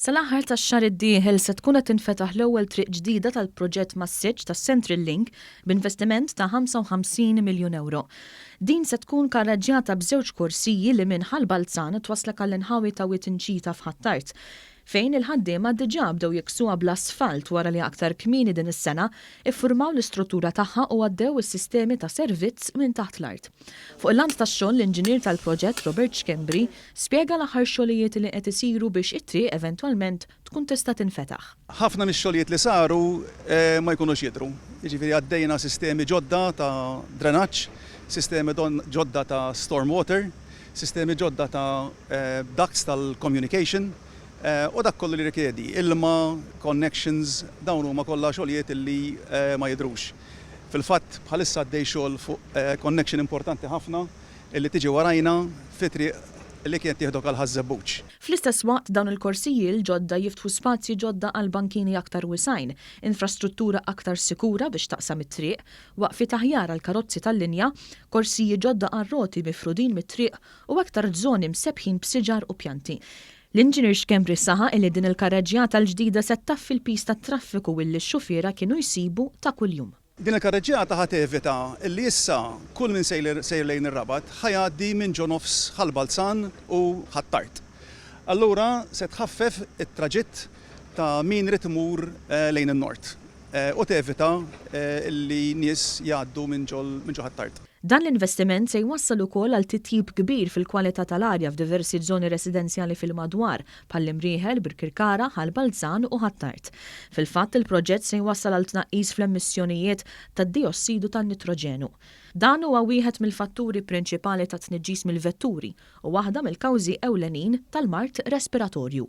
Sal-aħħar tax-xahar id-dieħel se tkun qed tinfetaħ l-ewwel triq ġdida tal-proġett mas-siġġ tas-Central Link b'investiment ta' 55 miljun ewro. Din se tkun karraġġjata b'żewġ korsiji li minn Ħal Balzan twasslek għall-inħawi ta' Wied Inċita f'Ħ'Attard. fejn il-ħaddiema diġà bdew jikksuha bl-asfalt wara li aktar kmieni din is-sena ffurmaw l-istruttura tagħha u għaddew is-sistemi ta' servizz minn taħt l-art. Fuq il-lant tax-xogħol l-inġinier tal-proġett Robert Schembri spjega l-aħħar xogħlijiet li qed isiru biex it-triq eventwalment tkun tista' tinfetaħ. Ħafna mix-xogħlijiet li saru ma jkunux jidhru, jiġifieri għaddejna sistemi ġodda ta' drenaġġ, sistemi ġodda ta' storm water, sistemi ġodda ta' ducts tal-communication u dak kollu li jirrikjedi ilma, connections, dawn huma kollha xogħlijiet li ma jidhrux. Fil-fatt, bħalissa għaddej xogħol fuq connection importanti ħafna li tiġi warajna fi triq li kienet tieħdok għal Ħaż-Żebbuġ. Fl-istess waqt, dawn il-korsiji l-ġodda jiftħu spazji ġodda għal bankini aktar wisgħin, infrastruttura aktar sikura biex taqsam it-triq, waqfiet aħjar għall-karozzi tal-linja, korsiji ġodda għar-roti mifrudin mit-triq u aktar żoni msebbħin b'siġar u pjanti. L-Inġinier Schembri saħaq illi din il-karreġġjata l-ġdida se ttaffi l-piż tat-traffiku illi x-xufiera kienu jsibu ta' kuljum. Din il-karreġġjata ħa tevita illi issa kull min sejr lejn ir-Rabat ħa jgħaddi minn ġo nofs Ħal Balzan u Ħ'Attard. Allura se tħaffef it-traġitt ta' min irid imur lejn in-Nord. u tevita li nies jgħaddu minn ġo Ħ'Attard. Dan l-investiment se jwassal ukoll għal titjib kbir fil-kwalità tal-arja f'diversi żoni residenzjali fil-madwar, bħall-Imrieħel, Birkirkara, Ħal Balzan u Ħ'Attard. Fil-fatt, il-proġett se jwassal għal tnaqqis fl-emissjonijiet tad-dijossidu tan-nitroġenu. Dan huwa wieħed mill-fatturi prinċipali tat-tniġġis mill-vetturi u waħda mill-kawżi ewlenin tal-mard respiratorju.